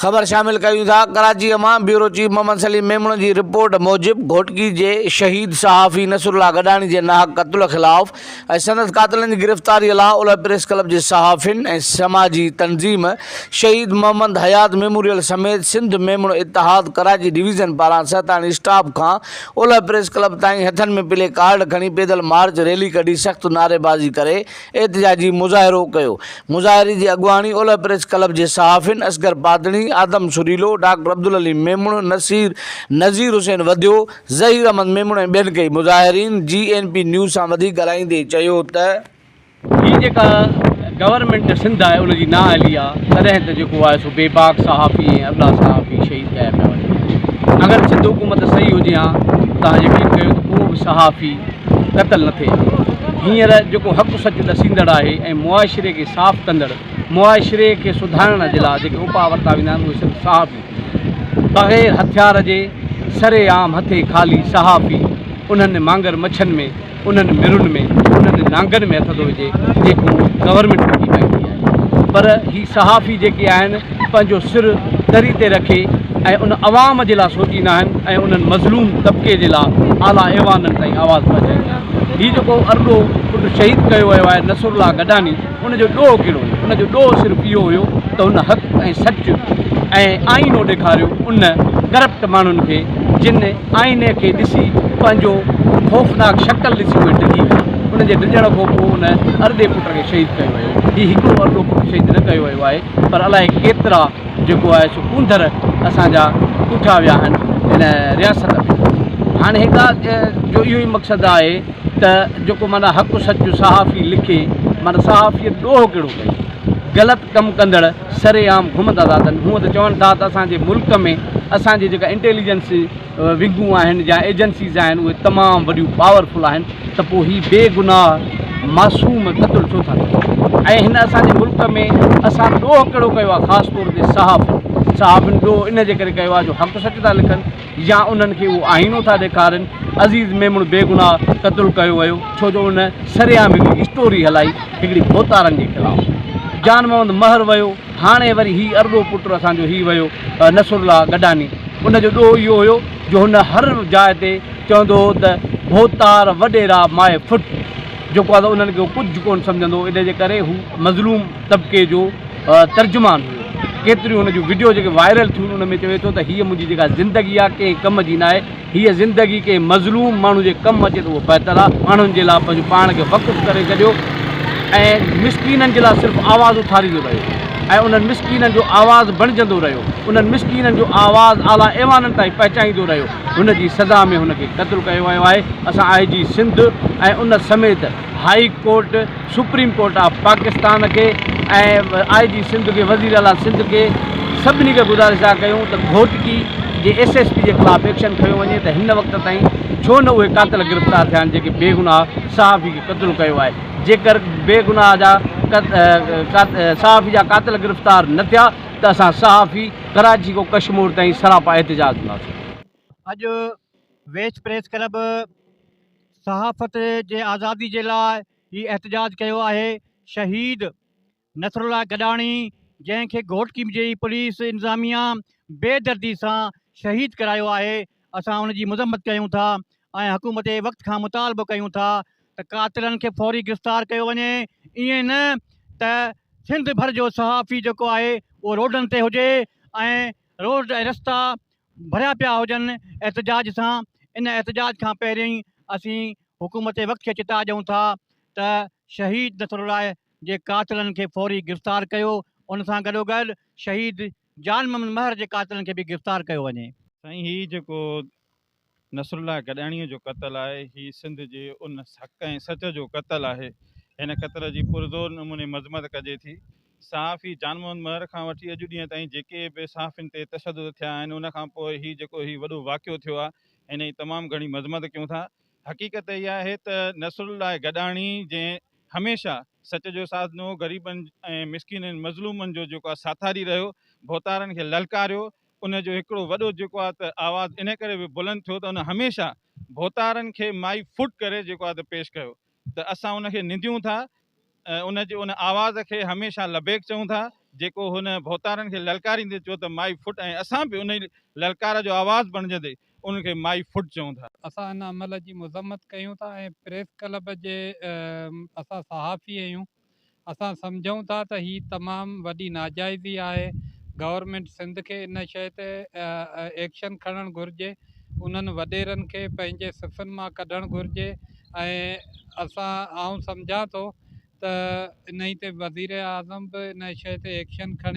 خبر شامل ڪريون ٿا ڪراچيء مان بيورو چيف محمد سليم ميمڻ جي رپورٽ موجب گهوٽڪي جي شهيد صحافي نصر الله گڏاڻي جي ناحق قتل خلاف ۽ سندس قاتلن جي گرفتاري لا اولهه پريس ڪلب جي صحافين ۽ سماجي تنظيم شهيد محمد حيات ميموريل سميت سنڌ ميمڻ اتحاد ڪراچي ڊويزن پاران سهتاڻي اسٽاپ کان اولهه پريس ڪلب تائين هٿن ۾ پلي ڪارڊ کڻي پيدل مارچ ريلي ڪڍي سخت نعريبازي ڪري احتجاجي مظاهرو ڪيو مظاهري جي اڳواڻي اولهه پريس ڪلب جي صحافين اصغر پادڻي، آدم سريلو، ڊاڪٽر عبدالعليم ميمڻ، نصير نذير حسين وڌيو، ظهير احمد ميمڻ ۽ ٻين ڪئي مظاهرين جي اين پي نيوز سان وڌيڪ ڳالهائيندي چيو ته. هي جيڪا گورنمينٽ سنڌ آهي ان جي نااهلي آ تڏهن ته جيڪو آهي سو بيباڪ صحافي ۽ ابلا صحافي شهيد ڪيا پيا وڃن اگر سنڌ حڪومت صحيح هجي هان تان يقين ڪيو ته ڪو به صحافي قتل نه ٿئي هينئر جيڪو حق سچ ڏسيندڙ آهي ۽ معاشري کي صاف ڪندڙ معاشري کي سڌارڻ جي لاء جيڪي اپاء ورتا ويندا آهن اهي صرف صحافي بغير هٿيار جي سري عام هٿي خالي صحافي انهن مانگر مڇن ۾ انهن مرن ۾ انهن نانگن ۾ هٿ ٿو وجهي جيڪو گورنمينٽ ڪڍي پائيندي آهي پر هي صحافي جيڪي آهن پنهنجو سر تري تي رکي ۽ ان عوام جي لاء سوچيندا آهن ۽ انهن مظلوم طبقي جي لاء اعليٰ ايوانن تائين آواز پهچائيندا آهن. هي جيڪو ارڏو پٽ شهيد ڪيو ويو آهي نصرالله گڏاني ان جو ڏوهه ڪهڙو هيو؟ ان جو ڏوهه صرف اهو هيو ته هن حق ۽ سچ ۽ آئينو ڏيکاريو ان ڪرپٽ ماڻهن کي جن آئيني کي ڏسي پنهنجو خوفناڪ شڪل ڏسي اهي ڊڄي ويا ان جي ڊڄڻ کان پوء ان ارڏي پٽ کي شهيد ڪيو ويو. هي هڪڙو ارڏو پٽ شهيد نه ڪيو ويو آهي. پر الائي ڪيترا جيڪو آهي سو ڪونڌر اسان جا ڪوٺا ويا آهن ان رياست ۾ هاڻي هڪ ڳالهه جو اهو ئي مقصد آهي ته جيڪو معنيٰ حق سچ جو صحافي لکي معنيٰ صحافيت ڏوهه ڪهڙو ڪئي غلط ڪم ڪندڙ سرعام گهمندا ٿا اچن هونء ته چون ٿا ته اسان جي ملڪ ۾ اسان جي جيڪا انٽيليجنس ونگون آهن يا ايجنسيز آهن اهي تمام وڏيون پاور فل آهن ته پوء هي بي گناهه معصوم قتل ڇو ٿا ڪن ۽ هن اسان جي ملڪ ۾ اسان ڏوهه ڪهڙو ڪيو آهي خاص طور تي صحافين صحافين ڏوهه ان جي ڪري ڪيو آهي جو حق سچ ٿا لکن يا انهن کي اهو آئينو ٿا ڏيکارين عزيز ميمڻ بي گناهه قتل ڪيو ويو ڇو جو ان سرعام هڪڙي اسٽوري هلائي هڪڙي ڀوتارن جي خلاف جان محمد مهر ويو هاڻي وري هي ارڏو پٽ اسان جو هي ويو نصر الله گڏاني ان جو ڏوهه اهو هيو جو هن هر جاء تي چوندو هو ته ڀوتار وڏيرا ماء ڦٽ جيڪو آهي سو انهن کي هو ڪجهه ڪونه سمجهندو هو ان جي ڪري هو مظلوم طبقي جو ترجمان هيو ڪيتريون هن جون وڊيو جيڪي وائرل ٿيون ان ۾ چوي ٿو ته هيء منهنجي جيڪا زندگي آهي ڪنهن ڪم جي ناهي هيء زندگي ڪنهن مظلوم ماڻهو جي ڪم اچي ته اهو بهتر آهي. ماڻهن جي لاء پنهنجو پاڻ کي وقف ڪري ڇڏيو ۽ مسڪينن جي لاء صرف آواز اٿاريندو رهيو ۽ انهن مسڪينن جو آواز بڻجندو رهيو. انهن مسڪينن جو آواز اعليٰ ايوانن تائين پهچائيندو رهيو. هن جي سزا ۾ هن کي قتل ڪيو ويو آهي. اسان آء جي سنڌ ۽ ان سميت high court, supreme court of Pakistan کي ۽ آء جي سنڌ کي وزير اعليٰ سنڌ کي سڀني کي گذارش اھا ڪيون ته گھوٽڪي جي ايس ايس پي جي خلاف ايڪشن کنيو وڃي ته ھن وقت تائين ڇو نه اھي قاتل گرفتار ٿيا آھن جيڪي بيگناھ صحافي کي قتل ڪيو آھي جيڪر بيگناھ جا صحافي جا قاتل گرفتار نه ٿيا ته اسان صحافي ڪراچي کان ڪشمور تائين سراپا احتجاج ڪنداسين. اڄ ويسٽ پريس ڪلب صحافت جي آزادي جي لاء هي احتجاج ڪيو آهي شهيد نصرالله گڏاڻي جنهن کي گهوٽڪي جي پوليس انتظاميا بي دردي سان شهيد ڪرايو آهي اسان ان جي مذمت ڪيون ٿا ۽ حڪومت وقت کان مطالبو ڪيون ٿا ته قاتلن کي فوري گرفتار ڪيو وڃي ائين نه ته سنڌ ڀر جو صحافي جيڪو آهي اهو روڊن تي هجي ۽ روڊ ۽ رستا ڀريا پيا هجن احتجاج سان، ان احتجاج کان پهرين اسين حڪومت وقت کي چتاء ڏيون ٿا ته شهيد نصرالله جي قاتلن کي فوري گرفتار ڪيو، ان سان گڏوگڏ شهيد جان محمد مهر جي قاتلن کي به گرفتار ڪيو وڃي. سائين هي جيڪو نصرالله گڏاڻيء جو قتل آهي. هي سنڌ جي ان حق ۽ سچ جو قتل آهي. هن قتل جي پرزور نموني مذمت ڪجي ٿي. صحافي جان محمد مهر کان وٺي اڄ ڏينهن تائين جيڪي به صحافين تي تشدد ٿيا آهن ان کان پوء هي جيڪو هي وڏو واقعو ٿيو آهي هن جي تمام گهڻي مذمت ڪيون ٿا. حقيقت اها آهي ته نصرالله گڏاڻي جنهن هميشه سچ جو ساٿ ڏنو، غريبن ۽ مسڪينن مظلومن جو جيڪو آهي ساٿاري رهيو، ڀوتارن کي للڪاريو ان جو هڪڙو وڏو جيڪو آهي ته آواز انهي ڪري به بلند ٿيو ته ان هميشه ڀوتارن کي مائي فٽ ڪري جيڪو آهي ته پيش ڪيو ته اسان ان کي ننديون ٿا ۽ ان جي ان آواز کي هميشه لبيڪ چئون ٿا جيڪو هن ڀوتارن کي للڪاريندي چيو ته مائي فٽ ۽ اسان به انهي للڪار جو آواز بڻجندي ان کي مائي فٽ چئون ٿا. اسان ان عمل جي مذمت ڪيون ٿا ۽ پريس ڪلب جي اسان صحافي اهيون اسان سمجهون ٿا ته هي تمام وڏي ناجائزي آهي، گورنمينٽ سنڌ کي ان شيء تي ايڪشن کڻڻ گهرجي، انهن وڏيرن کي پنهنجي صفن مان ڪڍڻ گهرجي ۽ آئون سمجهان ٿو ته انهي تي وزيراعظم به ان شيء تي ايڪشن کڻي.